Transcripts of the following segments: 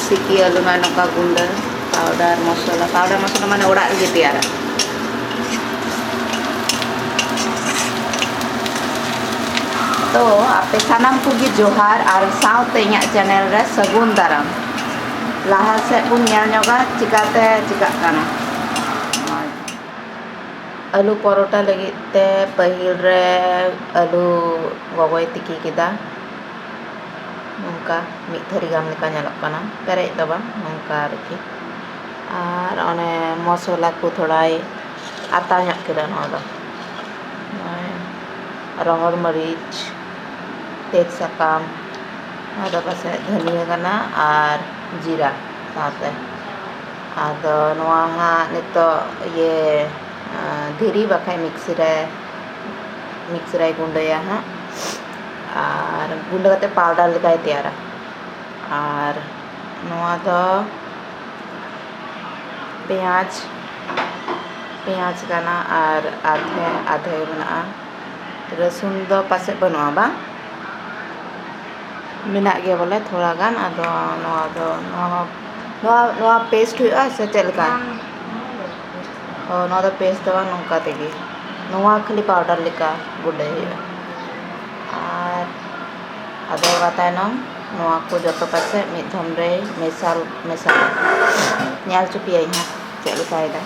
ᱥᱤᱠᱤ ᱟᱹᱞᱩ ᱢᱟ ᱱᱚᱝᱠᱟ ᱜᱩᱸᱰᱟᱹ ᱯᱟᱣᱰᱟᱨ ᱢᱚᱥᱞᱟ ᱯᱟᱣᱰᱟᱨ ᱢᱚᱥᱞᱟ ᱢᱟᱱᱮ ᱚᱲᱟᱜ ᱨᱮᱜᱮ ᱛᱮᱭᱟᱨᱟ ᱛᱚ ᱟᱯᱮ ᱥᱟᱱᱟᱢ ᱠᱚᱜᱮ ᱡᱚᱦᱟᱨ ᱟᱨ ᱥᱟᱶᱛᱮ ᱤᱧᱟᱹᱜ ᱪᱮᱱᱮᱞ ᱨᱮ ᱥᱟᱹᱜᱩᱱ ᱫᱟᱨᱟᱢ ᱞᱟᱦᱟ ᱥᱮᱫ ᱵᱚᱱ ᱧᱮᱞ ᱧᱚᱜᱟ ᱪᱤᱠᱟᱛᱮ ᱪᱤᱠᱟᱜ ᱠᱟᱱᱟ ᱟᱹᱞᱩ ᱯᱚᱨᱚᱴᱟ ᱞᱟᱹᱜᱤᱫ ᱛᱮ ᱯᱟᱹᱦᱤᱞ ᱨᱮ ᱟᱹᱞᱩ ᱜᱚᱜᱚᱭ ᱛᱤᱠᱤ ᱠᱮᱫᱟ ᱱᱚᱝᱠᱟ ᱢᱤᱫ ᱛᱷᱟᱹᱨᱤ ᱜᱟᱱ ᱞᱮᱠᱟ ᱧᱮᱞᱚᱜ ᱠᱟᱱᱟ ᱯᱮᱨᱮᱡ ᱫᱚ ᱵᱟᱝ ᱱᱚᱝᱠᱟ ᱟᱨᱠᱤ ᱟᱨ ᱚᱱᱮ ᱢᱚᱥᱞᱟ ᱠᱚ ᱛᱷᱚᱲᱟᱭ ᱟᱛᱟ ᱧᱚᱜ ᱠᱮᱫᱟ ᱱᱚᱣᱟ ᱫᱚ ᱨᱚᱦᱚᱲ ᱢᱟᱹᱨᱤᱪ ᱛᱮᱡᱽ ᱥᱟᱠᱟᱢ ᱟᱫᱚ ᱯᱟᱥᱮᱡ ᱫᱷᱟᱹᱱᱤᱭᱟᱹ ᱠᱟᱱᱟ ᱟᱨ ᱡᱤᱨᱟ ᱥᱟᱶᱛᱮ ᱟᱫᱚ ᱱᱚᱣᱟ ᱦᱟᱸᱜ ᱱᱤᱛᱚᱜ ᱤᱭᱟᱹ ᱫᱷᱤᱨᱤ ᱵᱟᱠᱷᱟᱡ ᱢᱤᱠᱥᱤ ᱨᱮ ᱢᱤᱠᱥᱤ ᱨᱮᱭ ᱜᱩᱸᱰᱟᱹᱭᱟ ᱦᱟᱸᱜ ᱟᱨ ᱜᱩᱸᱰᱟᱹ ᱠᱟᱛᱮᱫ ᱯᱟᱣᱰᱟᱨ ᱞᱮᱠᱟᱭ ᱛᱮᱭᱟᱨᱟ ᱟᱨ ᱱᱚᱣᱟ ᱫᱚ ᱯᱮᱸᱭᱟᱡᱽ ᱯᱮᱸᱭᱟᱡᱽ ᱠᱟᱱᱟ ᱟᱨ ᱟᱫᱷᱮ ᱟᱫᱷᱮ ᱢᱮᱱᱟᱜᱼᱟ ᱨᱟᱹᱥᱩᱱ ᱫᱚ ᱯᱟᱥᱮᱡ ᱵᱟᱹᱱᱩᱜᱼᱟ ᱵᱟᱝ ᱢᱮᱱᱟᱜ ᱜᱮᱭᱟ ᱵᱚᱞᱮ ᱛᱷᱚᱲᱟ ᱜᱟᱱ ᱟᱫᱚ ᱱᱚᱣᱟ ᱫᱚ ᱱᱚᱣᱟ ᱱᱚᱣᱟ ᱯᱮᱥᱴ ᱦᱩᱭᱩᱜᱼᱟ ᱥᱮ ᱪᱮᱫ ᱞᱮᱠᱟ ᱚ ᱱᱚᱣᱟ ᱫᱚ ᱯᱮᱥᱴ ᱫᱚ ᱵᱟᱝ ᱱᱚᱝᱠᱟ ᱛᱮᱜᱮ ᱱᱚᱣᱟ ᱠᱷᱟᱹᱞᱤ ᱯᱟᱣᱰᱟᱨ ᱞᱮᱠᱟ ᱜᱩᱰᱟᱹᱭ ᱦᱩᱭᱩᱜᱼᱟ ᱟᱨ ᱟᱫᱚ ᱚᱱᱟ ᱛᱟᱭᱱᱚᱢ ᱱᱚᱣᱟ ᱠᱚ ᱡᱚᱛᱚ ᱠᱟᱛᱮᱫ ᱢᱤᱫ ᱫᱷᱚᱢ ᱨᱮ ᱢᱮᱥᱟᱞ ᱢᱮᱥᱟᱞ ᱧᱮᱞ ᱦᱚᱪᱚ ᱯᱮᱭᱟᱧ ᱦᱟᱸᱜ ᱪᱮᱫ ᱞᱮᱠᱟᱭᱮᱫᱟᱭ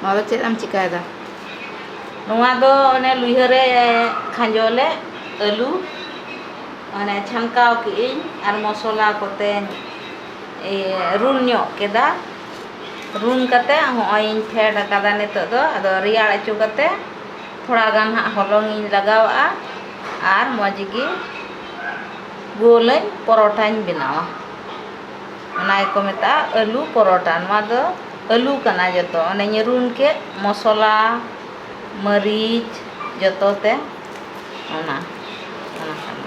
ᱱᱚᱣᱟ ᱫᱚ ᱪᱮᱫ ᱮᱢ ᱪᱤᱠᱟᱹᱭᱮᱫᱟ ᱱᱚᱣᱟ ᱫᱚ ᱚᱱᱮ ᱞᱩᱭᱦᱟᱹ ᱨᱮ ᱠᱷᱟᱸᱡᱚ ᱞᱮᱫ ᱟᱹᱞᱩ ᱢᱟᱱᱮ ᱪᱷᱟᱱᱠᱟᱣ ᱠᱮᱫ ᱟᱹᱧ ᱟᱨ ᱢᱚᱥᱞᱟ ᱠᱚᱛᱮᱧ ᱨᱩᱱ ᱧᱚᱜ ᱠᱮᱫᱟ ᱨᱩᱱ ᱠᱟᱛᱮᱫ ᱦᱚᱸᱜᱼᱚᱭ ᱤᱧ ᱯᱷᱮᱰ ᱠᱟᱫᱟ ᱱᱤᱛᱚᱜ ᱫᱚ ᱟᱫᱚ ᱨᱮᱭᱟᱲ ᱦᱚᱪᱚ ᱠᱟᱛᱮᱫ ᱛᱷᱚᱲᱟ ᱜᱟᱱ ᱦᱟᱸᱜ ᱦᱚᱞᱚᱝ ᱤᱧ ᱞᱟᱜᱟᱣ ᱟᱜᱼᱟ ᱟᱨ ᱢᱚᱡᱽ ᱜᱮ ᱜᱳᱞ ᱟᱹᱧ ᱯᱚᱨᱚᱴᱟᱧ ᱵᱮᱱᱟᱣᱟ ᱚᱱᱟ ᱜᱮᱠᱚ ᱢᱮᱛᱟᱜᱼᱟ ᱟᱹᱞᱩ ᱯᱚᱨᱚᱴᱟ ᱱᱚᱣᱟ ᱫᱚ ᱟᱹᱞᱩ ᱠᱟᱱᱟ ᱡᱚᱛᱚ ᱚᱱᱮᱧ ᱨᱩᱱ ᱠᱮᱫ ᱢᱚᱥᱞᱟ ᱢᱟᱹᱨᱤᱪ ᱡᱚᱛᱚ ᱛᱮ ᱚᱱᱟ ᱚᱱᱟ ᱠᱟᱱᱟ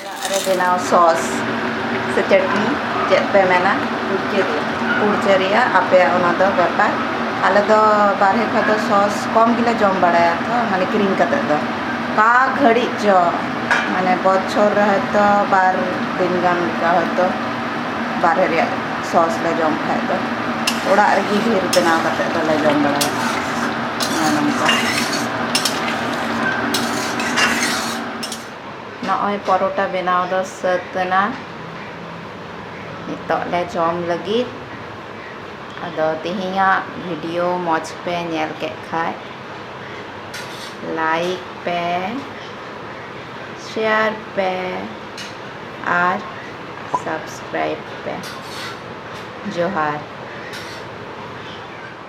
ᱚᱲᱟᱜ ᱨᱮ ᱵᱮᱱᱟᱣ ᱥᱚᱥ ᱥᱮ ᱪᱟᱹᱴᱱᱤ ᱪᱮᱫ ᱯᱮ ᱢᱮᱱᱟ ᱠᱩᱲᱪᱟᱹ ᱨᱮᱭᱟᱜ ᱠᱩᱲᱪᱟᱹ ᱨᱮᱭᱟᱜ ᱟᱯᱮᱭᱟᱜ ᱚᱱᱟ ᱫᱚ ᱵᱮᱯᱟᱨ ᱟᱞᱮ ᱫᱚ ᱵᱟᱨᱦᱮ ᱠᱷᱚᱡ ᱫᱚ ᱥᱚᱥ ᱠᱚᱢ ᱜᱮᱞᱮ ᱡᱚᱢ ᱵᱟᱲᱟᱭᱟ ᱛᱚ ᱢᱟᱱᱮ ᱠᱤᱨᱤᱧ ᱠᱟᱛᱮ ᱫᱚ ᱚᱠᱟ ᱜᱷᱟᱹᱲᱤᱡ ᱪᱚ ᱢᱟᱱᱮ ᱵᱚᱪᱷᱚᱨ ᱨᱮ ᱦᱚᱭᱛᱳ ᱵᱟᱨ ᱫᱤᱱ ᱜᱟᱱ ᱞᱮᱠᱟ ᱦᱚᱭᱛᱳ ᱵᱟᱨᱦᱮ ᱨᱮᱭᱟᱜ ᱥᱚᱥ ᱞᱮ ᱡᱚᱢ ᱠᱷᱟᱡ ᱫᱚ ᱚᱲᱟᱜ ᱨᱮᱜᱮ ᱰᱷᱮᱨ ᱵᱮᱱᱟᱣ ᱠᱟᱛᱮ ᱫᱚᱞᱮ ᱡᱚᱢ ᱵᱟᱲᱟᱭᱟ ᱱᱚᱜᱼᱚ ᱱᱚᱝᱠᱟ ᱱᱚᱜᱼᱚᱭ ᱯᱚᱨᱚᱴᱟ ᱵᱮᱱᱟᱣ ᱫᱚ ᱥᱟᱹᱛ ᱮᱱᱟ ᱱᱤᱛᱚᱜ ᱞᱮ ᱡᱚᱢ ᱞᱟᱹᱜᱤᱫ ᱟᱫᱚ ᱛᱮᱦᱮᱧᱟᱜ ᱵᱷᱤᱰᱤᱭᱳ ᱢᱚᱡᱽ ᱯᱮ ᱧᱮᱞ ᱠᱮᱫ ᱠᱷᱟᱡ ᱞᱟᱭᱤᱠ ᱯᱮ ᱥᱮᱭᱟᱨ ᱯᱮ ᱟᱨ ᱥᱟᱵᱥᱠᱨᱟᱭᱤᱵ ᱯᱮ ᱡᱚᱦᱟᱨ